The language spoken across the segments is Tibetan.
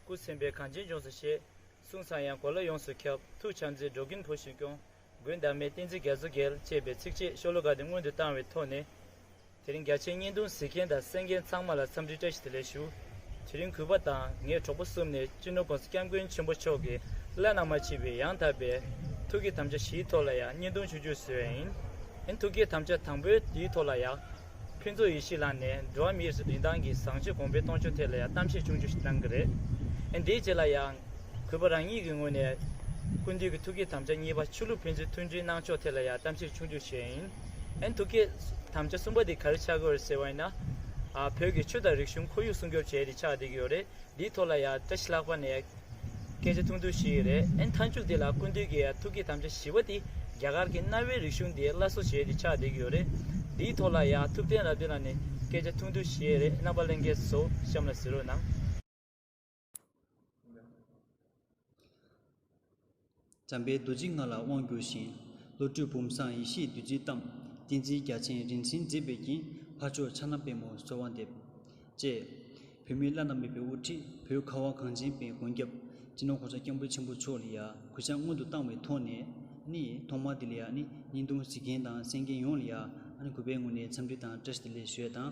སྐུ་སེམས་དཔའི་གངས་ཅན་ལྗོངས་སུ་གཤེགས། གསུང་གསང་ཡང་གོ་ལ་ཡོངས་སུ་ཁྱབ། ཐུགས་བྱམས་མཛད་འགྲོ་ཀུན་བུ་བཞིན་སྐྱོང། མགོན་དམ་མའི་བསྟན་འཛིན་རྒྱ་མཚོ་རྒྱལ། ཅེས་པའི་ཚིགས་བཅད་ཤོ་ལོ་ཀ་དེ་སྔོན་དུ་བཏང་བའི་ཐོག་ནས་དེ་རིང་རྒྱ་ཆེའི་བརྙན་ཐུང་གཟིགས་མཁན་དང་གསན་མཁན་ཚང་མ་ལ་འཚམས་འདྲི་བཀྲ་ཤིས་བདེ་ལེགས་ཞུ། དེ་རིང་གུས་པ་དང་ངེད་གྲོགས་པོ་གསུམ་ནས་སྤྱི་ནོར་བང་སོ་སྐྱབས་མགོན་ཆེན་པོ་མཆོག་གི་བླ་ན་མ་མཆིས་པའི་ཡང་དག་པའི་ཐུགས་ཀྱི་དམ་བཅའ་བཞིའི་ཐོག་ལ་ཡང་བརྙན་ཐུང་ཆུ་བཅུ་བཟོས་ཨིན། ཨིན་ཐུགས་ཀྱི་དམ་བཅའ་དང་པོའི་དེའི་ཐོག་ལ་ཡང། ཕུན་ཚོགས་ཡེ་ཤེས་ལགས་ནས་འགྲོ་བ་མིའི་རིན་ཐང་གི་བཟང་སྤྱོད་གོང་འཕེལ་གཏོང་ཕྱོགས་ཐད་ལ་ཡང་གཏམ་བཤད་ཆུང་ཆུང་ཞིག་གནང་གི་རེད། ཨིན་དེའི་རྗེས་ལ་ཡང། གུས་པ་རང་ཉིད་ཀྱི་ངོས་ནས། ཀུན་འདུས་ཀྱི་ཐུགས་ཀྱི་དམ་བཅའ་གཉིས་པ་ཆོས་ལུགས་ཕན་ཚུན་མཐུན་སྒྲིལ་གནང་ཕྱོགས་ཐད་ལ་ཡང་གཏམ་བཤད་ཆུང་ཆུང་བྱས་ཨིན། ཨན་ཐུགས་ཀྱི་དམ་བཅའ་གསུམ་པ་དེ་ག་རེ་ཆགས་ཀྱི་རེད་ཟེར་བ་ཡིན་ན། བོད་ཀྱི་ཆོས་དང་རིག་གཞུང་ཁོར་ཡུག་སྲུང་སྐྱོབ་བྱས་ཏེ་ཆགས་བསྡད་ཀྱི་ཡོད་རེད་འདིའི་ཐོག་ལ་ཡང་བཀྲ་ཤིས་ལྷག་པ་ནས་སྐད་ཆ་ཐུང་ཐུང་ཞིག་ཡོད་རེད་ཨན་མཐའ་མཇུག་དེ་ལ་སྐུ་མདུན་གྱི་ཐུགས་ཀྱི་དམ་བཅའ་བཞི་པ་དེ་རྒྱ་གར་གྱི་གནའ་བོའི་རིག་གཞུང་དེ་སླར་གསོ་བྱས་ཏེ་ཆགས་བསྡད་ཀྱི་ཡོད་རེད་འདིའི་ཐོག་ལ་ཡང་ཐུབ་བསྟན་རབ་བརྟན་ལགས་ནས་སྐད་ཆ་ཐུང་ཐུང་ཞིག་ཡོད་རེད་རྣམ་པ་གླེང་མཁན་ཚོ་གཤམ་ལ་ཟིར་རོ་གནང། འཇམ་པའི་རྡོ་རྗེ་ལྔ་ལ་དབང་བསྒྱུར་ཞིང། བློ་གྲོས་བུམ་བཟང་ཡེ་ཤེས་བདུད་རྩིས་གཏམས། ཏིང་འཛིན་རྒྱ་ཆེན་རིན་ཆེན་མཛེས་པའི་རྒྱན། འཕགས་མཆོག་ཕྱག་ན་པད་མོ་གསོལ་བ་འདེབས། ཅེས། བུད་མེད་བླ་ན་མེད་པའི་དབུ་ཁྲིད་བོད་ཁ་བ་གངས་ཅན་པའི་མགོན་སྐྱབས། སྤྱི་ནོར་གོང་ས་སྐྱབས་འགྲོ་ཆེན་པོ་མཆོག་ལ་ཡ་གུ་ཕྱག་སྔོན་དུ་བཏང་བའི་ཐོག་ནས། ནི། ཐོག་མར་དེ་ལ་ཡ་ནི་སྙིང་དུང་གཟིགས་མཁན་དང་གསན་མཁན་ཡོངས་ལ་ཡ། ཨ་ནི་གུས་པའི་ངོས་ནས་འཚམས་འདྲི་དང་བཀྲ་ཤིས་བདེ་ལེགས་ཞུ་ཡ་དང།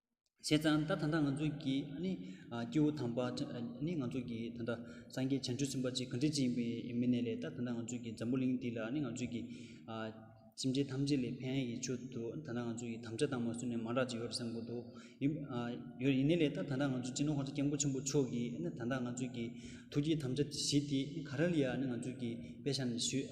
བྱས་ཙང་ད་ད་ལྟ་ང་ཚོ་གི་ནི་སྐྱེ་བོ་དམ་པ་ནི་ང་ཚོ་གི་ད་ལྟ་སངས་རྒྱས་བྱང་ཆུབ་སེམས་དཔའ་ཆེ་གེ་འབྲི་ཆེ་ཡིན་པའི་མི་སྣས་ལས་ད་ད་ང་ཚོ་གི་འཛམ་བུ་གླིང་འདི་ལ་ནི་ང་ཚོ་གི་སེམས་ཅན་ཐམས་ཅད་ལས་ཕན་ཡོན་ཡིད་ཆོས་དུ་ད་ད་ང་ཚོ་ཡི་དམ་བཅའ་དང་མ་བསུ་ནས་མང་དྲག་ཅིག་ཡོད་རེད་བསམ་གྱི་འདུག་ཡིན་ཡོད་ཡིན་ནའི་ལས་ད་ད་ང་ཚོ་སྤྱི་ནོར་ཧོར་ཟླ་སྐྱབས་མགོན་ཆེན་པོ་མཆོག་གིས་ནི་ད་ད་ང་ཚོ་གི་ཐུགས་ཀྱི་དམ་བཅའ་བཞི་དེ་ག་རེ་ལ་ཡང་ནི་ང་ཚོ་གི་དཔེ་ཆ་ནས་ཞུས་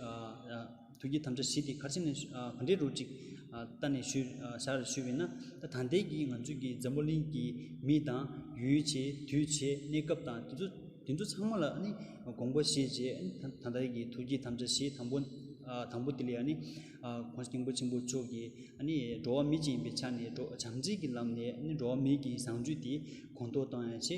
ཐུགས་ཀྱི་དམ་བཅའ་བཞི་དེ་ག་ཕྱི་ནས་ག་འདྲའི་རོ་ཅིག་བལྟ་ནས་བཞག་རེ་ཞུས་པས་ན། ད་ལྟའི་གི་ང་ཚོའི་གི་འཛམ་བུ་གླིང་གི་མི་དང། ཡུལ་བྱེད་དུས་བྱེད་གནས་སྐབས་དང་དེ་ཚོ་དེ་ཚོ་ཚང་མ་ལ་ནི་དགོངས་པ་བཞེས་རྗེས་ད་ལྟའི་གི་ཐུགས་ཀྱི་དམ་བཅའ་བཞི་དང་པོ་དང་པོ་དེ་ལས་ནི། ཁོང་སྙིང་པོ་ཆེན་པོ་མཆོག་གི་ནི་འགྲོ་བ་མི་གཅིག་ཡིན་པའི་ཆ་ནས་འགྲོ་བྱམས་བརྩེ་གྱི་ལམ་ནས་ནི་འགྲོ་བ་མི་གྱི་བཟང་སྤྱོད་དེ་གོང་མཐོར་བཏང་ཡང་ཆེ།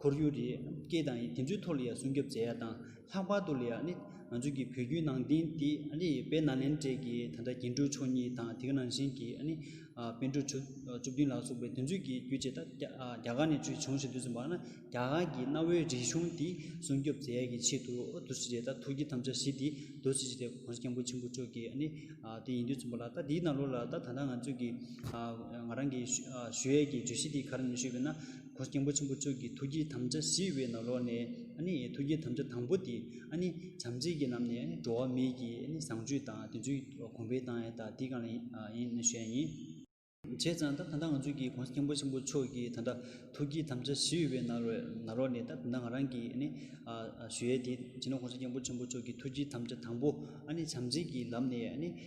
ཁོར་ཡུག་རི་སྐྱེས་དང་ཡི་དེ་ཚོའི་ཐོག་ལ་ཡང་སྲུང་སྐྱོབ་བྱེད་ཡ་དང་ལྷག་པར་དུ་ལ་ཡ་ནི་ང་ཚོའི་གི་བོད་བརྒྱུད་ནང་བསྟན་དེ་ཨ་ནི་བེ་ན་ལེན་གྲས་གི་ད་ལྟ་རྒྱན་དྲུག་མཆོག་གཉིས་དང་དེ་ནང་བཞིན་གི་ཨ་ནི་བན་དྲུག་ཆུ་བཅུ་བདུན་ལགས་སོགས་པའི་དེ་ཚོའི་གི་བརྒྱུད་བྱས་ད་རྒྱ་གར་ནས་བྱུང་བཞིན་འདུག་ཟེར་བ་ན་རྒྱ་གར་གི་གནའ་བོའི་རིག་གཞུང་དེ་སྲུང་སྐྱོབ་བྱེད་ཡ་གི་ཆེད་དུ་དུ་ཕྱི་རེ་ད་ཐུགས་ཀྱི་དམ་བཅའ་བཞི་དེ་བསྡུ་ཕྱི་རེ་གོང་ས་སྐྱབས་མགོན་ཆེན་པོ་མཆོག་གི་ཨ་ནི་དེ་ཡིན་དུས་ཚུན་པ་ལ་ད་དེའི་ནང་ལོགས་ལ་ད་ད་ལྟ་ང་ཚོས་གི་ང་རང་གི་ཞུ་ཡས་ཀྱི་བརྗོད་གཞི་དེ་ག་རེ་ནས་ཞུས་པས་ན། གོ་སྐྱེས་པོ་ཆེན་པོ་ཁྱོད་ཀྱི་ཐུགས་ཀྱི་དམ་བཅའ་ཞི་བའི་ནོར་ལོག་ནས། ཐུགས་ཀྱི་དམ་བཅའ་དང་པོ་དེ། བྱམས་བརྩེ་གྱི་ལམ་ནས་འགྲོ་བ་མིའི་གྱི་བཟང་སྤྱོད་དང་དེ་ཚོའི་གོང་འཕེལ་བཏང་ཡས་ད་དེ་གང་ལ་ཡིན་ནི་ཞེས་ཡིན། བྱས་ཙང་ད་ད་ལྟ་ང་ཚོས་ཀྱི་གོ་སྐྱེས་པོ་ཆེན་པོ་ཁྱོད་ཀྱི་ད་ལྟ་ཐུགས་ཀྱི་དམ་བཅའ་ཞི་བའི་ནོར་ལོག་ནས་ད་ད་ང་རང་གི་ཞུ་ཡས་དེ་བྱས་ན་གོ་སྐྱེས་པོ་ཆེན་པོ་ཁྱོད་ཀྱི་ཐུགས་ཀྱི་དམ་བཅའ་དང་པོ། བྱམས་བརྩེ་གྱི་ལམ་ནས།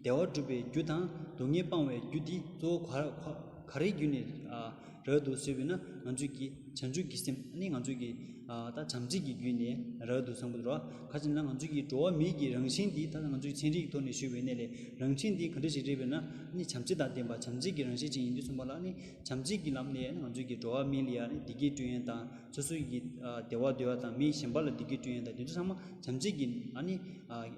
བདེ་བ་སྒྲུབ་པའི་རྒྱུ་དང་སྡུག་བསྔལ་སྤང་བའི་རྒྱུ་འདི་གཙོ་བོ་ག་རེའི་རྒྱུ་ནས་རག་འདུག་ཟེར་བས་ན་ང་ཚོས་ཀྱི་བྱང་ཆུབ་ཀྱི་སེམས་ནི་ང་ཚོས་ཀྱི་ད་བྱམས་བརྩེ་གྱི་རྒྱུ་ནས་རག་འདུག་བསམ་གྱི་འགྲོ་བ་ག་ཚོད་ན་ང་ཚོས་ཀྱི་འགྲོ་བ་མིའི་གྱི་རང་བཞིན་འདི་ད་ང་ཚོས་ཀྱི་ཚན་རིག་གི་ཐོག་ནས་ཞུས་པའི་གནས་ལས་རང་བཞིན་འདི་ག་འདྲ་ཞིག་རེད་བས་ན་ནི་བྱམས་བརྩེ་དང་ལྡན་པ་བྱམས་བརྩེ་གྱི་རང་བཞིན་ཅན་ཡིན་དུས་གསུངས་པ་ལ་ནི་བྱམས་བརྩེ་གྱི་ལམ་ནས་ང་ཚོས་ཀྱི་འགྲོ་བ་མི་ལ་ཡང་ནི་བདེ་སྐྱིད་སྤྲོད་ཡན་དང་སོ་སོའི་ཀྱི་བདེ་བ་འདོད་ཡ་དང་མི་གཞན་པ་ལ་བདེ་སྐྱིད་སྤྲོད་ཡན་དང་དེ་ཚོ་ཚང་མ་བྱམས་བརྩེ་གྱི་ཨ་ནི་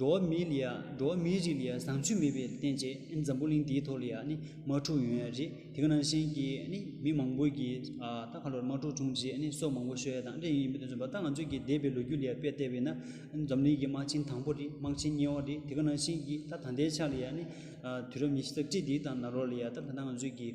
འགྲོ་བ་མིའི་ལ་འགྲོ་བ་མིའི་རིགས་ལ་བཟང་སྤྱོད་མེད་པའི་རྟེན་བཅས་འཛམ་བུ་གླིང་འདིའི་ཐོག་ལ་ནི་མ་འཁྲུགས་ཡོང་ཡ་རེད་དེ་ག་ནང་བཞིན་གྱི་ནི་མི་མང་པོ་གི་ད་ག་ལོར་མ་འཁྲུགས་བྱུང་རྗེས་ནི་སྲོག་མང་པོ་ཤོད་ཡ་དང་འདྲ་ཡིན་ཡིན་པའི་དོན་མཚོན་པ་ད་ང་ཚོས་ཀྱི་འདས་པའི་ལོ་རྒྱུས་ལ་དཔེ་བལྟས་པས་ན་འཛམ་གླིང་གི་དམག་ཆེན་དང་པོ་རེད་དམག་ཆེན་གཉིས་བ་རེད་དེ་ག་ནང་བཞིན་གྱི་ད་ད་ལྟའི་ཆ་ལ་ནི་དུས་རབས་ཉི་ཤུ་རྩ་གཅིག་འདིའི་དང་ན་རོ་ལ་ད་ད་ང་ཚོས་ཀྱི།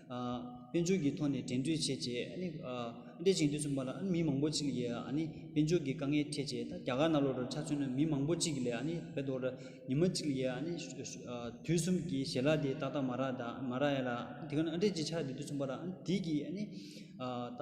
དཔལ་འབྱོར་གྱི་ཐོག་ནས་འགྲན་རྩོད་བྱས་རྗེས་ཨནི། ཅིང་འདོད་ཆུང་པ་ལ་ཨ་ནི་མི་མང་པོ་ཅིག་ཡིས་ཨ་ནི། དཔལ་འབྱོར་གྱི་དཀའ་ངལ་འཕྲད་རྗེས་ད་རྒྱ་གར་ནག་ལོ་རུ་ཆ་མཚོན་ན་མི་མང་པོ་ཅིག་ལས་ཨ་ནི་བོད་དོ་ར་ཉི་མ་ཅིག་ཡིས་ཨ་ནི། དུས་གསུམ་གྱི་ཞལ་ལག་དེ་ཏག་ཏག་མ་རག་མ་རག་ཡ་ལ། དེ་ག་ནི་ཨ་འགྲན་གྱི་ཆ་རེད་འདོད་ཆུང་པ་ལ་ཨ་ནི་དེ་གྱིས་ཨ་ནི། ད།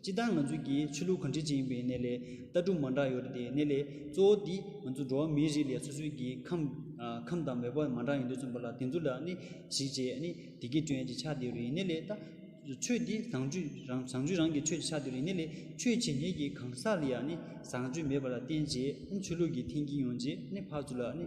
སྤྱི་བཏང་ང་ཚོའི་གི་ཆོས་ལུགས་གང་འདྲི་ཅི་ཡིན་པའི་གནད་ལས་ལྟ་གྲུབ་མང་དྲག་ཡོད་རེད་དེ་གནད་ལས་གཙོ་བོ་འདི་ང་ཚོ་འགྲོ་བ་མིའི་རིགས་ལས་སོ་སོའི་གི་ཁམས་ཁམས་དང་འབད་པ་མང་དྲག་ཡོད་འདུག་བཙུན་པ་ལགས་དེ་ཚོ་ལ་ནི་གཞིག་བྱས་ནི་དེ་གི་སྐྱོན་གྱི་ཆ་དེ་རེད་གནད་ལས་ལྟ་ཆོས་འདི་བཟང་སྤྱོད་རང་བཟང་སྤྱོད་རང་གི་ཆོས་ཀྱི་ཆ་དེ་རེད་གནད་ལས་ཆོས་བྱེད་མཁན་གི་གང་ཟག་ལ་ཡང་ནི་བཟང་སྤྱོད་མེད་པ་ལ་བརྟེན་བྱས་ནི་ཆོས་ལུགས་གི་འཐེན་གྱི་ཡོང་རྗེས་ནི་ཕར་ཚུར་ལ་ནི་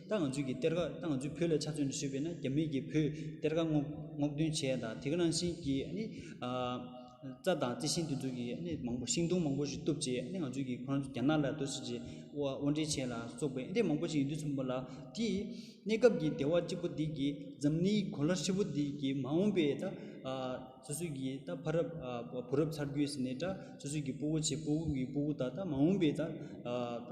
ད་ང་ཚོས་ཀྱི་གཏེར་ཁ་ད་ང་ཚོའི་བོད་ལ་ཆ་མཚོན་ནས་བཤུས་པས་ན་རྒྱ་མིས་ཀྱི་བོད་གཏེར་ཁ་སྔོག་སྔོག་འདོན་བྱས་དང་དེ་ག་རང་བཞིན་གྱི་ནི་རྩྭ་དང་རྩི་ཤིང་དེ་ཚོ་གི་ནི་མང་པོ་ཤིང་སྡོང་མང་པོ་ཞིག་བཏུབ་ཅེས་ནི་ང་ཚོས་ཀྱི་ཁོ་རང་ཚོ་རྒྱ་ནག་ལ་དོ་སྲིད་ཀྱི་དབོར་འདྲེན་བྱས་ལ་སོགས་པའི་ནི་མང་པོ་ཞིག་ཡིན་དུས་ཚུན་པ་ལ་དེ་གནས་སྐབས་ཀྱི་བདེ་བ་གཅིག་པོ་འདི་གི་འཛམ་གླིང་གོ་ལ་ཧྲིལ་པོ་འདི་གི་མ་འོངས་པའི་ད་སོ་སོའི་ཀྱི་ད་ཕ་རབས་བུ་རབས་ཚར་རྒྱུད་ཟིན་ནས་ད་སོ་སོའི་ཀྱི་སྤུ་བོ་ཆེ་སྤུ་བོ་ཀྱི་སྤུ་བོ་ད་ད་མ་འོངས་པའི་ད་ད་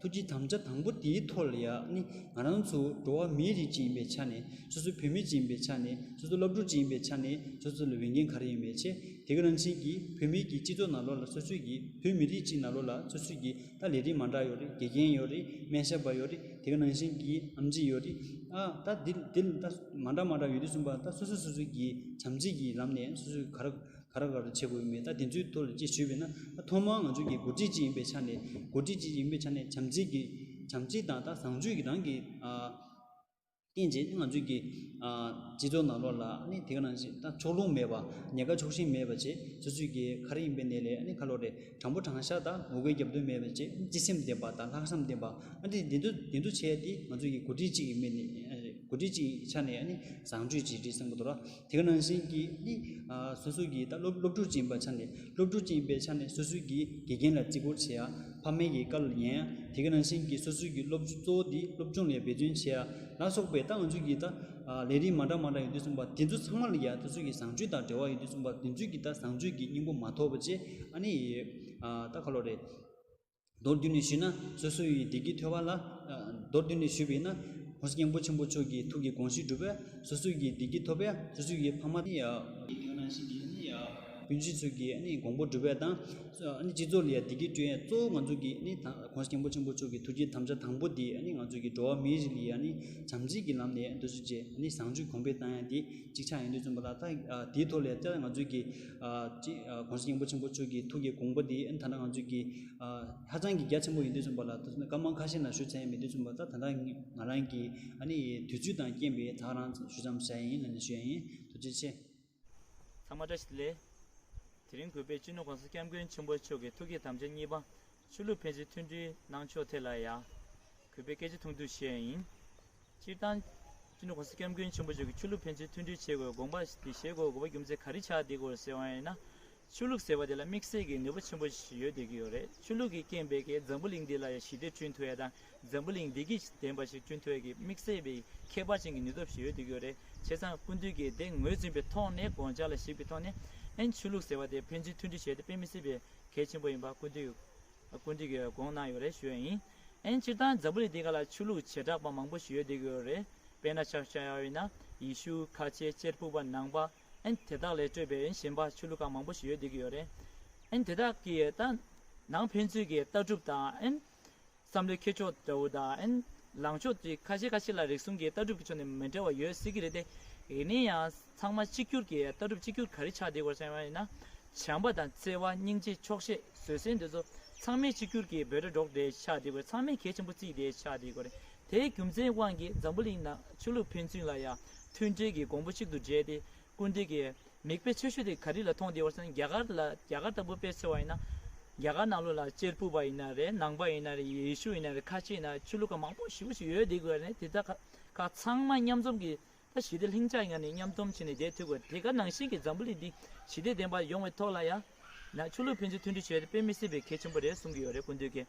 ཐུགས་ཀྱི་དམ་བཅའ་དང་པོ་དེའི་ཐོག་ལ་ཡང་ནི་ང་རང་ཚོ་འགྲོ་བ་མིའི་རིགས་ཅིག་ཡིན་པའི་ཆ་ནས་སོ་སོ་བུད་མེད་ཅིག་ཡིན་པའི་ཆ་ནས་སོ་སོ་སློབ་ཕྲུག་ཅིག་ཡིན་པའི་ཆ་ནས་སོ་སོ་ལ་འོས་འགན་ག་རེ་ཡོད་མེད་ཆེ་དེ་ག་རང་བཞིན་གྱིས་བུད་མེད་ཀྱི་སྤྱི་ཚོགས་ནང་ལོགས་ལ་སོ་སོས་ཀྱིས་བུད་མེད་རིགས་ཅིག་ནང་ལོགས་ལ་སོ་སོས་ཀྱིས་ད་ལས་རིགས་མང་དྲགས་ཡོད་རེད་དགེ་རྒན་ཡོད་རེད་སྨན་ཞབས་པ་ཡོད་རེད་དེ་ག་རང་བཞིན་གྱིས་ཨམ་ཆི་ཡོད་རེད་ཨ་ད་འདི་འདི་ད་མང་དྲགས་མང་དྲགས་ཡོད་དུས་གསུམ་པ་ད་སོ་སོས་སོ་སོས་ཀྱིས་བྱམས་བརྩེ་གྱི་ལམ་ནས་སོ་སོས་ག་ར་ག་རེ་ག་རེ་བྱེད་དགོས་ཡོད་མེད་ད་དེ་ཚོའི་ཐོག་ལ་ཅིག་ཞུས་པས་ན་ཐོག་མར་ང་ཚོ་གི་འགོ་ཁྲིད་ཅིག་ཡིན་པའི་ཆ་ནས་འགོ་ཁྲིད་ཅིག་ཡིན་པའི་ཆ་ནས་བྱམས་བརྩེ་གི་བྱམས་བརྩེ་དང་ད་བཟང་སྤྱོད་ཀྱི་རང་གི་བསྟན་རྗེས་ང་ཚོས་ཀྱི་སྤྱི་ཚོགས་ནང་ལོགས་ལ་ནི་དེ་ག་རང་བཞིན་ད་ཕྱོགས་ལྷུང་མེད་པ་ཉེ་ཁ་ཕྱོགས་ཞེན་མེད་པ་བྱེད་སོ་སོས་ཀྱི་ག་རེ་ཡིན་པའི་གནས་ལས་ནི་ཁ་ལོ་རེ་དྲང་པོ་དྲང་བཞག་དང་ངོ་རྒོལ་རྒྱབ་རྡུང་མེད་པ་བྱེད་སྤྱི་སེམས་ལྡན་པ་དང་ལྷག་བསམ་ལྡན་པ་ཨ་ཏི་དེ་ཚོ་དེ་ཚོ་བྱས་ཏེ་ང་ཚོས་ཀྱི་འགོ་ཁྲིད་ཅིག་ཡིན་པའི་ནི་འགོ་ཁྲིད་ཅིག་ཆ་ནས་ནི་བཟང་སྤྱོད་ཅིག་རེད་བསམ་གི་འདུག་ར། དེ་ནང་བཞིན་གྱི་ནི། སོ་སོ་གྱིས་ད་སློབ་ཕྲུག་སྦྱིན་པ་ཆ་ནས་སློབ་ཕྲུག་སྦྱིན་པའི་ཆ་ནས་སོ་སོའི་གྱི་དགེ་རྒན་ལ་བརྩི་བཀུར་བྱེད་ཡ། ཕ་མའི་གྱི་བཀའ་ལ་ཉན་ཡ། དེ་གི་ནང་བཞིན་གྱི་སོ་སོའི་གྱི་སློབ་གཙོ་བོ་དེའི་སློབ་སྦྱོང་ལས་འབད་བརྩོན་བྱེད་ཡ། ལ་སོགས་པའི་ད་ང་ཚོའི་གྱི་ད། ལས་རིགས་མ་འདྲ་མ་འདྲ་ཡོད་དུས་གསུངས་པ་དེ་ཚོ་ཚང་མ་ལ་གྱི་ད་སོ་སོའི་གྱི་བཟང་སྤྱོད་དང་འབྲེལ་བ་ཡོད་དུས་གསུངས་པ་དེ་ཚོའི་གྱི་ད་བཟང་སྤྱོད་ཀྱི་སྙིང་པོ་མ་ཐོབ་པ་བཅས་ཨ་ནི། ད་ཁ་ལོ་རེད། མདོར་བསྡུས་ནས་ཞུས་ན་སོ་སོ་ཡི་བདེ་སྐྱིད་ཐོས་པ་ལ། མདོར་བསྡུས་ནས་ཞུས་པས་ན། ཧོར་སྙིང་པོ་ཆེན་པོ་མཆོག་གི་ཐུགས་ཀྱི་དགོངས་གཞི་འགྲུབ་པས་སོ་སོ་ཡི་བདེ་སྐྱིད་ཐོབ་པས་སོ་སོ་ཡི་ཕ་མ། ཡི་དོན་རང་བཞིན་གྱི། སྤུན་མཆེད་ཚུལ་གྱི་དགོངས་པ་འགྲུབ་པས་དང། སྤྱི་ཚོགས་ལ་ཡང་བདེ་སྐྱིད་སྤྲོད། གཙོ་བོ་ང་ཚོ་གི་ཧོར་སྙིང་པོ་ཆེན་པོ་མཆོག་གི་ཐུགས་ཀྱི་དམ་བཅའ་དང་པོ་དེ་ང་ཚོ་གི་འགྲོ་བ་མིའི་རིགས་ལ་བྱམས་བརྩེ་གྱི་ལམ་ནས་འདོད་གཟུགས་བྱས། བཟང་སྤྱོད་གོང་འཕེལ་བཏང་ཡང་དེ་གཅིག་ཆ་ཡིན་དུས་བཙུན་པ་ལ་དེའི་ཐོག་ལས་ཀྱང་ང་ཚོ་གི། གོང་ས་སྙིང་པོ་ཆེན་པོ་ཆོས་ཀྱི་ཐུགས་ཀྱི་དགོངས་པ་འདི་ད་ནང་ང་ཚོས་ཀྱི་ཧ་ཅང་གི་རྒྱ་ཆེན་པོ་ཡིན་དུས་ཚུན་པ་ལ་ད་དུང་སྐར་མ་ཁ་ཤས་ན་ཞུ་ཚན་མེད་དུས་ཚུན་པ་ད་ད་ལྟ་ང་རང་གི་ཨ་ནི་ཡི་དུས་ཚོད་དང་རྐྱེན་པས་ཐག་རང་ཞུ་ཙམ་བྱ་ཡིན་ལན་འདེབས་ཞུ་ཡ་ཡིན་རྡོ་རྗེ་ཆེ། ཚང་མ་བཀྲ་ཤིས་བདེ་ལེགས། དེ་རིང་གུས་པས་སྤྱི་ནོར་གོང་ས་སྐྱབས་མགོན་ཆེན་པོ་མཆོག་གི་ཐུགས་ཀྱི་དམ་བཅའ་གཉིས་པ་ཆོས་ལུགས་ཕན་ཚུན་མཐུན་སྒྲིལ་གནང་ཕྱོགས་ཐད་ལ་ཡང་གུས་པའི་སྐད་ཆ་ཐུང་ཐུང་བཤད་ཡིན། སྤྱིར་བཏང། སྤྱི་འདུས ྋགོང་ས ྋསྐྱབས་མགོན་ཆེན་པོ་མཆོག་གིས་ཆོས་ལུགས་ཕན་ཚུན་མཐུན་སྒྲིལ་བྱེད་དགོས་དགོངས་པ་དེ་བཞེས་དགོས་དགོས་པ་རྒྱུ་མཚན་ག་རེ་ཆགས་འདི་སྐོར་གསལ་བ་ཡིན་ན། ཆོས་ལུགས་ཟེར་བ་དེ་ལ་དམིགས་བསལ་གྱི་ནུས་པ་ཆེན་པོ་ཞིག་ཡོད་བསྡད་ཀྱི་ཡོད་རེད་ཆོས་ལུགས་ཀྱིས་རྐྱེན་པས་ཀྱི་འཛམ་བུ་གླིང་འདི་ལ་ཡང་ཞི་བདེ་བསྐྲུན་ཐུབ་ཡ་དང་འཛམ་བུ་གླིང་བདེ་སྐྱིད་ལྡན་པ་ཞིག་བསྐྲུན་ཐུབ་ཡ་གྱི་དམིགས་བསལ་བའི་ཁྱད་པར་ཅན་གྱི་ནུས་སྟོབས་ཤིག་ཡོད་བསྡད་ཀྱི་ཡོད་རེད་བྱས་ཙང་ཀུན་འདུས་ཀྱི་དེ་ངོས་འཛིན་པའི་ཐོག་ནས་དགོངས་འཇགས་ལ་ཞིབ་ཀྱི་ཐོག་ནས་ཨེན་ཆོས་ལུགས་ཟེར་བ་དེ་ཕན་ཚུན་མཐུན་སྒྲིལ་བྱས་ཏེ་དཔེ་མི་སྲིད་པའི་གལ་ཆེན་པོ་ཡིན་པ་སྐུ་མདུན་སྐུ་མདུན་གྱིས་དགོངས་གནང་ཡོད་རེད་ཞུ་ཡ་ཡིན། ཨན་སྤྱིར་བཏང་འཛམ་བུ་གླིང་འདི་ག་ལ་ཆོས་ལུགས་བྱེ་བྲག་པ་མང་པོ་ཞིག་ཡོད་བསྡད་ཀྱི་ཡོད་རེད་དཔེ་ན་ཆ་ཤ་ཡའོ་ཨིན་ཡེ་ཤུ་ཁ་ཆེ་གཅེར་བུ་པ་ནང་པ་ཨན་དེ་དག་ལས་སྤྲོས་པའི་ཨན་གཞན་པ་ཆོས་ལུགས་ཁག་མང་པོ་ཞིག་ཡོད་བསྡད་ཀྱི་ཡོད་རེད་ཨན་དེ་དག་གིས་ཏང་ནང་ཕན་ཚུན་གྱི་ལྟ་གྲུབ་དང་ཨན་བསམ་བློའི་འཁྱེར་ཕྱོགས་འདྲ་བོ་དང། ལངས་ཕྱོགས་བཅས་ཁ་ཤས་ཁ་ཤས་ལ་རིག་གསུམ་གྱི་ལྟ་གྲུབ་ཀྱི་ཕྱོགས་ནས་མི་འདྲ་བ་ཡོད་སྲིད་ཀྱི་རེད་དེ། ཡིན་ན་ཡང་ཚང་མ་གཅིག་གྱུར་གྱི་ལྟ་གྲུབ་གཅིག་གྱུར་ག་རེ་ཆགས་བསྡད་སྐོར་གསན་པ་ཡིན་ན། བྱམས་པ་དང་བརྩེ་བ་སྙིང་རྗེ་ཆོག་ཤེས་བཟོད་བསྲན་འདི་ཚོ་ཚང་མས་གཅིག་གྱུར་གྱི་འབོད་སྒྲ་སྒྲོག་སྟེ་ཆགས་བསྡད་སྐོར་ཚང་མས་གལ་ཆེན་པོ་བརྩིས་ཏེ་ཆགས་བསྡད་སྐོར་རེད། དེའི་རྒྱུ་མཚན་དབང་གིས་འཛམ་བུ་གླིང་ནང་ཆོས་ལུགས་ཕན་ཚུན་ལ་ཡང་མཐུན་སྒྲིལ་གྱི་གོང་བུ་གཅིག་ཏུ་སྦྲེལ་ཏེ་སྐུར་འདེབས་ཀྱི་མིག་དཔེ་ཆེ་ཤོས་དེ་ག་རེ་ལ་མཐོང་བདེ་བར་མཚོན་ན་རྒྱ་གར་ལ་རྒྱ་གར་ལྟ་བུ་དཔེ་ཆེ་བ་ཡིན་ན། རྒྱ་གར་ནང་ལུགས་ལ་གཅེར་བུ་པ་ཡིན་ན་རེད་ནང་པ་ཡིན་ན་རེད་ཡེ་ཤུ་ཡིན་ན་རེད་ཁ་ཆེ་ཡིན་ན་རེད་ཆོས་ལུགས་ཁག་མང་པོ་བཞི་བོ་ཞིག་ཡོད་བསྡད་དགོས་རེད་དེ་དག་ཁག་ཚང་མ་མཉམ་འཛོམས་ཀྱིས་ད་ཞི་བདེ་ལྷིང་འཇགས་ངང་ནས་མཉམ་འཛོམས་བྱས་ནས་བསྡད་ཐུབ་དགོས་རེད་དེ་ག་ནང་བཞིན་གྱི་འཛམ་བུ་གླིང་འདི་ཞི་བདེ་ལྡན་པ་ཡོང་བའི་ཐོག་ལ་ཡང་ན་ཆོས་ལུགས་ཕན་ཚུན་མཐུན་སྒྲིལ་བྱེད་པའི་དཔེ་མི་སྲིད་པའི་གལ་ཆེན་པོ་རེད་གསུང་གི་ཡོད་རེད་སྐུ་མདུན་གྱིས་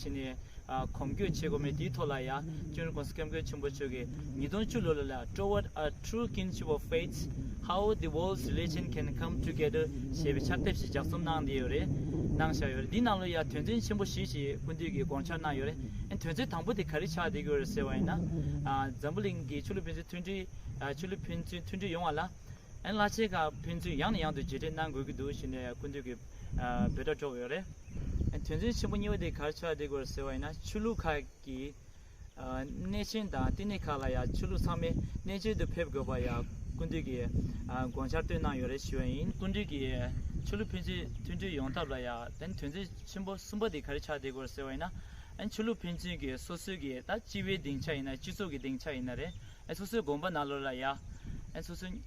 ཕྱིན་ནས། གོམ་བགྲོད་བྱེད་དགོས་མེད་དེའི་ཐོག་ལ་ཡང་ཅུན་རི་ཀོང་སི་སྐྱབས་མགོན་ཆེན་པོ་མཆོག་གིས་ཉིས་སྟོང་བཅུ་ལོ་ལ་ལ Toward a True Kinship of Faiths། How the World's Religions Can Come Together ཞེས་པའི་ཕྱག་དེབ་ཞིག་ལྗགས་རྩོམ་གནང་བསྡད་ཡོད་རེད། གནང་བཞག་ཡོད་རེད། འདིའི་ནང་ལོ་ཡང་དོན་ཚན་ཆེན་པོ་བཞི་ཞིག་སྐུ་མདུན་གྱིས་དགོངས་འཆར་གནང་ཡོད་རེད། ཨེ་དོན་ཚན་དང་པོ་དེ་ག་རེ་ཆགས་བསྡད་ཀྱི་ཡོད་རེད་ཟེར་བ་ཡིན་ན། འཛམ་བུ་གླིང་གི་ཆོས་ལུགས་ཕན་ཚུན་མཐུན་སྒྲིལ། ཆོས་ལུགས་ཕན་ཚུན་མཐུན་སྒྲིལ་ཡོང་བ་ལ། བླ་ཆེན་ཁག་ཕན་ཚུན་ཡང་ནས་ཡང་དུ་རྗེས་དྲན་གནང་དགོས་ཀྱི་འདུག་ཞེས་ནས་སྐུ་མདུན་གྱིས་འབོད་སྒྲ་སྒྲོག་ཡོད་རེད། དོན་ཚན་ཆེན་པོ་གཉིས་པ་དེ་གར་ཆགས་བསྡད་དགོས་ཟེར་བ་ཡིན་ན་ཆོས་ལུགས་ཁག་གི་གནས་ཆེན་དང་བསྟི་གནས་ཁག་ལ་ཡང་ཆོས་ལུགས་ཚང་མས་གནས་མཇལ་དུ་ཕེབས་དགོས་པ་ཡང་སྐུ་མདུན་གྱིས་དགོངས་འཆར་བཏོན་གནང་ཡོད་རེད་ཞུས་པ་ཡིན། སྐུ་མདུན་གྱིས་ཆོས་ལུགས་ཕན་ཚུན་མཐུན་འབྲེལ་ཡོང་ཐབས་ལ་ཡང་དོན་ཚན་ཆེན་པོ་གསུམ་པ་དེ་གར་ཆགས་བསྡད་དགོས་ཟེར་བ་ཡིན་ན། ཆོས་ལུགས་ཕན་ཚུན་གྱི་སོ་སོའི་གྱི་ད་སྤྱི་བའི་སྡིངས་ཆ་ཡིན་ན་སྤྱི་ཚོགས་ཀྱི་སྡིངས་ཆ་ཡིན་ན་རེད། སོ་སོའི་དགོངས་པ་ནག་ལོ་ལ་ཡ། སོ་སོའི།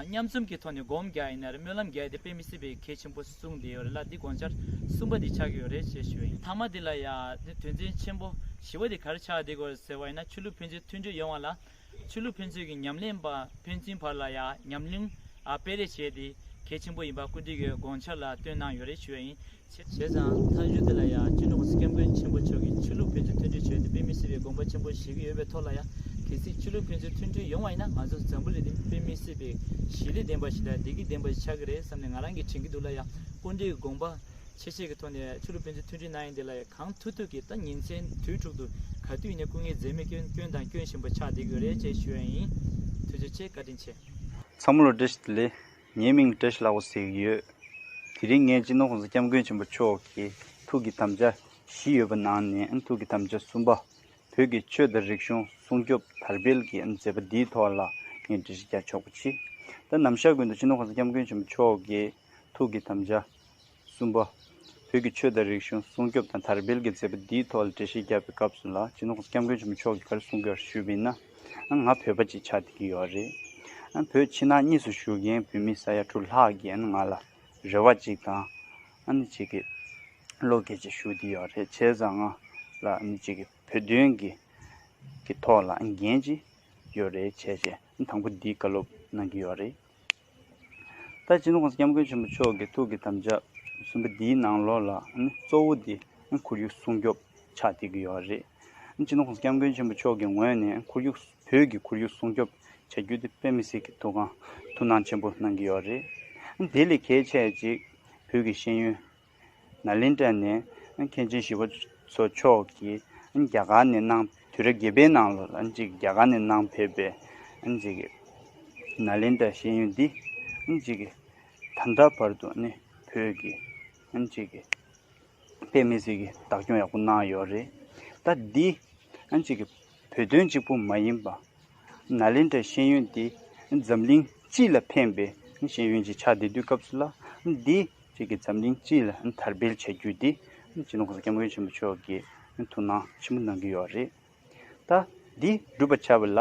མཉམ་འཛོམས་ཀྱི་ཐོག་ནས་སྒོམ་རྒྱག་ཡིན་ནར་སྨོན་ལམ་རྒྱག་དེ་དཔེ་མི་སྲིད་པའི་གལ་ཆེན་པོ་གསུངས་བསྡད་ཡོད་རེད་ལ་འདི་དགོངས་འཆར་གསུམ་པ་འདི་ཆགས་ཀྱི་ཡོད་རེད་ཅེས་ཞུ་བ་ཡིན། ཐ་མ་འདི་ལ་ཡ། དེ་དོན་ཚན་ཆེན་པོ་བཞི་བ་འདི་གར་ཆགས་བསྡད་དགོས་ཟེར་བ་ཡིན་ན་ཆོས་ལུགས་ཕན་ཚུན་མཐུན་འབྲེལ་ཡོང་བ་ལ། ཆོས་ལུགས་ཕན་ཚུན་གྱི་ཉམས་ལེན་པ་ཕན་ཚུན་བར་ལ་ཡ་ཉམས་ལེན་སྤེལ་རེས་བྱས་དེ་གལ་ཆེན་པོ་ཡིན་པ་སྐུལ་འདེད་ཀྱི་དགོངས་འཆར་ལ་བཏོན་གནང་ཡོད་རེད་ཞུ་བ་ཡིན། བྱས་ཙང་ཐང་གཞུང་དེ་ལ་ཡང་སྤྱི་ནོར་སྐལ་མགོན་ཆེན་པོ་མཆོག་གིས་ཆོས་ལུགས་ཕན་ཚུན་མཐུན་འབྲེལ་བྱོས་ཏེ་དཔེ་མི་སྲིད་པའི་དགོངས་པ་ཆེན་པོ་བཞེས་ཀྱི་ཡོད་པའི་ཐོག་ལ་ཡང་གལ་སྲིད་ཆོས་ལུགས་ཕན་ཚུན་མཐུན་འབྲེལ་ཡོང་བ་ཡིན་ན་ང་ཚོ་འཛམ་བུ་གླིང་འདི་དཔེ་མི་སྲིད་པའི་ཞི་ལས་ལྡན་པ་ཞིག་དང་བདེ་སྐྱིད་ལྡན་པ་ཞིག་ཆགས་ཀྱི་རེད་བསམ་ནས་ང་རང་གིས་དྲན་གྱི་འདུག་ལ་ཡང་ཀུན་འདྲིས་དགོངས་པ་ཆེ་ཆེ་གི་ཐོག་ནས་ཆོས་ལུགས་ཕན་ཚུན་མཐུན་འབྲེལ་གནང་ཡིན་དེ་ལ་ཡང་གང་ཐུག་ཐུག་གིས་ད་ཉིན་མཚན་དུས་དྲུག་ཏུ་ག་དུས་ཡིན་ན་སྐུ་ངལ་འཛེམ་མེད་སྐྱོན་སྐྱོན་དང་སྐྱོན་བཞིན་པ་ཆགས་བསྡད་ཀྱི་ཡོད་རེད་ཅེས་ཞུ་ཡ་ཡིན། ཐུགས་རྗེ་ཆེ་བཀའ་དྲིན་ཆེ། མཚམས་བློ་བྲེ་ཞིག་ལས། ངའི་མིང་བཀྲ་ཤིས་ལགས་པ་ཟེར་གྱི་ཡོད། དེ་རིང་ངས་སྤྱི་ནོར་ཁོངས་སུ་སྐྱབས་མགོན་ཆེན་པོ་མཆོག་གི་ཐུགས་ཀྱི་དམ་བཅའ་བཞི་ཡོད་པ་ནང་ནས་ཐུགས་ཀྱི་དམ་བཅའ་གསུམ་པ། བོད་ཀྱི་ཆོས་དང་རིག་གཞུང་སྲུང་སྐྱོབ་དར་སྤེལ་གྱི་མཛད་པ་འདིའི་ཐོག་ལ་ངས་འགྲེལ་བཤད་རྒྱག་ཆོག་པ་མཆིས། ད་ནམ་ཤར་དགོན་དུ་སྤྱི་ནོར་ཁོངས་སུ་སྐྱབས་མགོན་ཆེན་པོ་མཆོག་གི་ཐུགས་ཀྱི་དམ་བཅའ། གསུམ་པ། བོད་ཀྱི་ཆོས་དང་རིག་གཞུང་སྲུང་སྐྱོབ་དང་དར་སྤེལ་གྱི་མཛད་པ་འདིའི་ཐོག་ལ་འགྲེལ་བཤད་རྒྱབ་པའི་སྐབས་སུ་ལ་ཇུ་ནོར་སྐྱབས་མགོན་ཆེན་པོ་མཆོག་གིས་གར་གསུངས་པའི་བར་ཞུས་པ་ཡིན་ན། ང་བོད་པ་གཅིག་ཆགས་བསྡད་ཀྱི་ཡོད་རེད། བོད་ཕྱི་ནང་གཉིས་སུ་བཞུགས་མཁན་བོད་མི་ས་ཡ་དྲུག་ལྷག་གིས་ང་ལ་རེ་བ་གཅིག་དང། གཅིག་གིས་བློ་འགེལ་གཅིག་ཞུ་བསྡད་ཡོད་རེད་བྱས་ཙང་ང་ལ་གཅིག་གིས་བོད་དོན་གྱི་ཐོག་ལ་འགན་གཅིག་ཡོད་རེད་བྱས་རྗེས་དང་པོ་འདི་བཀའ་སློབ་གནང་གི་ཡོད་རེད། ད་ཕྱིན ྋགོང་ས ྋསྐྱབས་མགོན་ཆེན་པོ་མཆོག་གི་ཐུགས་ཀྱི་དམ་བཅའ་གསུམ་པ་འདིའི་ནང་ལོགས་ལ་གཙོ་བོ་དེ་ཁོར་ཡུག་སྲུང་སྐྱོབ་ཆགས་བསྡད་ཀྱི་ཡོད་རེད། ཕྱིན ྋགོང་ས ྋསྐྱབས་མགོན་ཆེན་པོ་མཆོག་གི་ངོས་ནས་ཁོར་ཡུག་བོད་ཀྱི་ཁོར་ཡུག་སྲུང་སྐྱོབ་བྱ་རྒྱུ་དེ་དཔེ་མི་སྲིད་ཀྱི་ཐུགས་ཁང་ཐུགས་སྣང་ཆེན་པོ་གནང་གི་ཡོད་རེད། དེ་ལས་གལ་ཆེ་གཅིག་བོད་ཀྱི་ཤེས་ཡོན་ན་ལེན་ཏྲ་ནས་མཁན་ཆེན་ཞི་བ་འཚོ་མཆོག་གིས་རྒྱ་གར་ནས་གནང། དུས་རབས་བརྒྱད་པའི་ནང་ལོར་རྒྱ་གར་ནས་གནང་ཕེབས་པའི་ན་ལེན་ཏྲ་ཤེས་ཡོན་འདི་ད་ལྟ་བར་དུ་བོད་ཀྱི་པདྨའི་གཟིགས་ཀྱི་བདག་སྐྱོང་ཡག་པོ་གནང་ཡོད་རེད། ད་འདི་བོད་དོན་གཅིག་པུ་མ་ཡིན་པ། ནཱ་ལེནྡྲའི་ཤེས་ཡོན་འདི་འཛམ་གླིང་སྤྱི་ལ་ཕན་པའི་ཤེས་ཡོན་གྱི་ཆ་འདི་དུས་སྐབས་སུ་ལ་འདི་བྱེད་ཀྱི་འཛམ་གླིང་སྤྱི་ལ་དར་སྤེལ་བྱ་རྒྱུ་འདི་སྤྱི་ནོར་སྐྱབས་མགོན་ཆེན་པོ་མཆོག་གི་ཐུགས་སྣང་ཆེན་པོ་གནང་གི་ཡོད་རེད། ད་འདི་བསྒྲུབ་པར་བྱ་བ་ལ་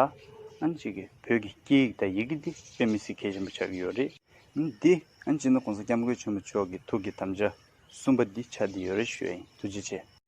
བོད་ཀྱི་སྐད་ཡིག་དང་ཡི་གེ་འདི་དཔེ་མི་སྲིད་གལ་ཆེན་པོ་ཆགས་ཀྱི་ཡོད་རེད། འདི་སྤྱི་ནོར་སྐྱབས་མགོན་ཆེན་པོ་མཆོག་གི་ཐུགས་ཀྱི་དམ་བཅའ་གསུམ་པ་འདི་ཆ་འདི་ཡོད་རེ་ཞུ་ཡིན་ཐུགས་རྗེ་ཆེ།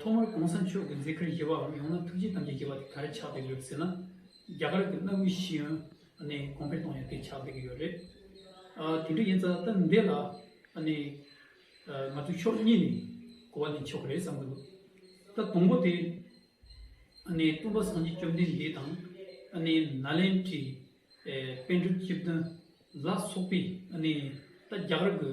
ཐོག་མར་གོང་ས་མཆོག་གི་མཛད་ཁར་བཞེས་པའམ་ཡང་ན་ཐུགས་རྗེ་དམ་བཅས་བྱེད་པ་དེ་ག་རེ་ཆགས་བསྡད་ཡོད་ཟེར་ན། རྒྱ་གར་གྱི་གནའ་བོའི་ཤེས་ཡོན་ནས་གོང་འཕེལ་གཏོང་ཡོད་དེ་ཆགས་བསྡད་ཀྱི་ཡོད་རེད། དེ་འདྲ་ཡིན་ཙང་ད་འདི་ལ་ང་ཚོས་ཕྱོགས་གཉིས་ནས་གོ་བ་ལེན་ཆོག་གི་རེད་བསམ་གྱི་འདུག་ད་དང་པོ་དེ། སྟོན་པ་སངས་རྒྱས་བཅོམ་ལྡན་འདས་དང། ནཱ་ལེནྡྲའི་དཔལ་སྒྲུབ་སྤྱི་བདུན་ལ་སོགས་པས་ད་རྒྱ་གར་གྱི།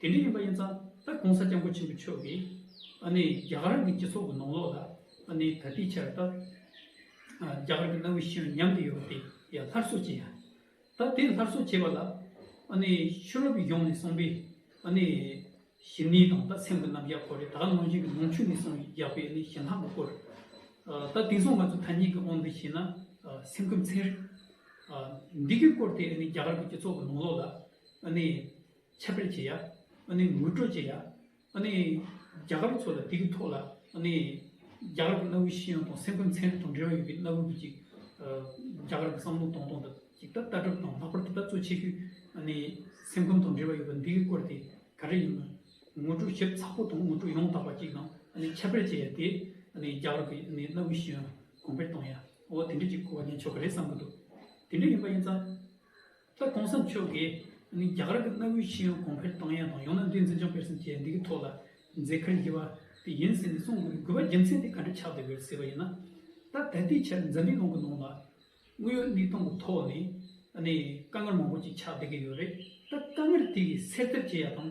དེ་འདྲ་ཡིན་པ་ཡིན་ཙང་ད་གོང་ས་སྐྱབས་མགོན་ཆེན་པོ་མཆོག་གིས་ཨ་ནི་རྒྱ་གར་གྱི་སྤྱི་ཚོགས་ཀྱི་ནང་ལོགས་ལ་ཨ་ནི་དག་སྒྲིག་བྱས་པ་ལྟར་རྒྱ་གར་གྱི་གནའ་བོའི་ཤེས་ཡོན་ཉམས་དུ་ཡོད་པ་དེ་ཡང་སླར་གསོ་བྱས། ད་དེ་སླར་གསོ་བྱས་པ་ལ་ཨ་ནི་ཤུ་རོབ་ཡོངས་ནས་སོང་པའི་ཨ་ནི་ཞི་ནི་དང་ད་སེམས་ཀྱི་རྣམ་གཞག་སྐོར་རེ་ད་གནང་བཞིན་གྱི་ནང་ཆོས་ནས་སོང་ཡག་པའི་ཨ་ནི་ཞེན་ལྷག་གི་སྐོར་ད་དེང་སང་ང་ཚོ་ཐ་སྙད་ཀྱི་ཨོང་འདི་བྱས་ན་སེམས་ཁམས་ཚན་རིག་འདི་གའི་སྐོར་དེ་ཨ་ནི་རྒྱ་གར་གྱི་སྤྱི་ཚོགས་ཀྱི་ནང་ལོགས་ལ་ཨ་ནི། ཁྱབ་སྤེལ་བྱེད་ཡ། ངོས་སྤྲོད་བྱེད་ཡ། རྒྱ་གར་ཚོ་ལ་དེ་གི་ཐོག་ལ། རྒྱ་གར་གི་གནའ་བོའི་ཤེས་ཡོན་དང་སེམས་ཁམས་ཚན་རིག་དང་འབྲེལ་བ་ཡོད་པའི་གནའ་བོའི་བུ་གཅིག། རྒྱ་གར་གི་བསམ་བློ་གཏོང་སྟངས་དང་ཅིག་ལྟ་གྲུབ་དང་ལྷག་པར་དུ་ད་གཙོ་ཆེ་ཤོས། སེམས་ཁམས་དང་འབྲེལ་བ་ཡོད་པ་འདི་གི་སྐོར་དེ་ག་རེ་ཡིན་ནམ། ངོས་སྤྲོད་ཞིབ་ཚགས་པོ་དང་ངོས་སྤྲོད་ཡོངས་དག་པ་གཅིག་དང་ཁྱབ་སྤེལ་བྱེད་ཡ་དེ། རྒྱ་གར་གི་གནའ་བོའི་ཤེས་ཡོན་གོང་འཕེལ་གཏོང་ཡ། འོ་དེ་འདྲ་གཅིག་གོ་བ་ལེན་ཆོག་ག་རེ་བསམ་གི་འདུག་དེ་འདྲ་ཡིན་པ་ཡིན་ཙང། ད་གོང་ས་མཆོག་གིས་རྒྱ་གར་གྱི་གནའ་བོའི་ཤེས་ཡོན་གོང་འཕེལ་གཏང་ཡས་དང་ཡང་ན་འདིའི་འཛིན་སྐྱོང་སྤེལ་ཟིན་བྱས་འདི་གི་ཐོག་ལ་མཛད་ཁར་བཞེས་པ་དེ་ཡིན་ཟེར་ནས་གསུང་དགོས་པའི་དགོས་པ་རྒྱུ་མཚན་དེ་ག་འདྲ་ཆགས་བསྡད་པའི་ཟེར་བ་ཡིན་ན། ད་ད་ལྟའི་ཆར་འཛམ་གླིང་ལུང་གི་ནང་ལ་དངོས་ཡོད་གནས་སྟངས་གི་ཐོག་ནས་དཀའ་ངལ་མང་པོ་ཅིག་ཆགས་བསྡད་ཀྱི་ཡོད་རེད་ད་དཀའ་ངལ་དེ་གི་སེལ་ཐབས་བྱེད་ཡ་དང་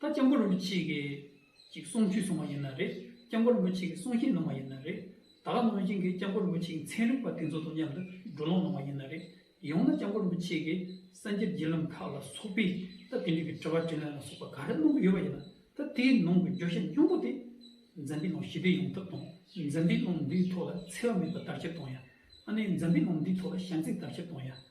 ད་སྐྱབས་མགོན་རིན་པོ་ཆེ་གི་ཅིག་གསུང་ཆོས་གསུང་བ་ཡིན་ན་རེད་སྐྱབས་མགོན་རིན་པོ་ཆེ་གི་གསུང་བཤད་གནང་བ་ཡིན་ན་རེད་ད་ག་ནང་བཞིན་གི་སྐྱབས་མགོན་རིན་པོ་ཆེའི་མཚན་རིག་པ་དེ་ཚོ་དང་མཉམ་དུ་བགྲོ་གླང་གནང་བ་ཡིན་ན་རེད་ཡང་ན་སྐྱབས་མགོན་རིན་པོ་ཆེ་གི་སངས་རྒྱས་བརྒྱུད་ལམ་ཁག་ལ་སོགས་པའི་ད་དེ་འདྲའི་གི་དྲི་བ་དྲིས་ལན་ལ་སོགས་པ་ག་རེ་གནང་གི་ཡོད་པ་ཡིན་ན་ད་དེའི་ནང་གི་བརྗོད་བྱ་ཉུང་པོ་དེ་འཛམ་པའི་ནང་ཞི་བདེ་ཡོང་ཐབས་དང་འཛམ་པའི་ནང་འདིའི་ཐོག་ལ་འཚེ་བ་མེད་པ་དར་ཁྱབ་གཏོང་ཡ་ཨ་ནེ་འཛམ་པའི་ནང་འདིའི་ཐོག་ལ་བྱམས་བརྩེ་དར་ཁྱབ་གཏོང་ཡ།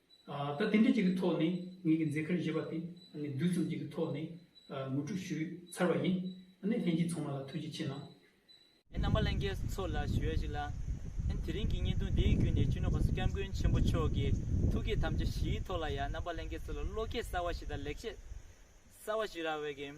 ད་དེ་འདྲ་ཅིག་གི་ཐོག་ནས་ངེད་ཀྱི་མཛད་ཁར་བཞེས་པ་དེ་དུས་གསུམ་གཅིག་གི་ཐོག་ནས་ངོ་སྤྲོད་ཞུས་ཚར་བ་ཡིན། ལྷན་རྒྱས་ཚང་མ་ལ་ཐུགས་རྗེ་ཆེ་གནང། ཨེ་རྣམ་པ་ལྷན་རྒྱས་ཚོ་ལ་ཞུ་ཡ་ཞིག་ལ། ཨེ་དེ་རིང་གི་བརྙན་ཐུང་འདིའི་བརྒྱུད་ནས་སྤྱི་ནོར་བྷ་སུ་སྐྱབས་མགོན་ཆེན་པོ་མཆོག་གི་ཐུགས་བསྐྱེད་དམ་བཅའ་བཞིའི་ཐོག་ལ་ཡང་རྣམ་པ་ལྷན་རྒྱས་ཚོ་ལ་བློ་སྐྱེད་གསར་བ་ཞིག་དང་ལེགས་བཤད་གསར་བ་ཞིག་རག་འོས་ཀྱི།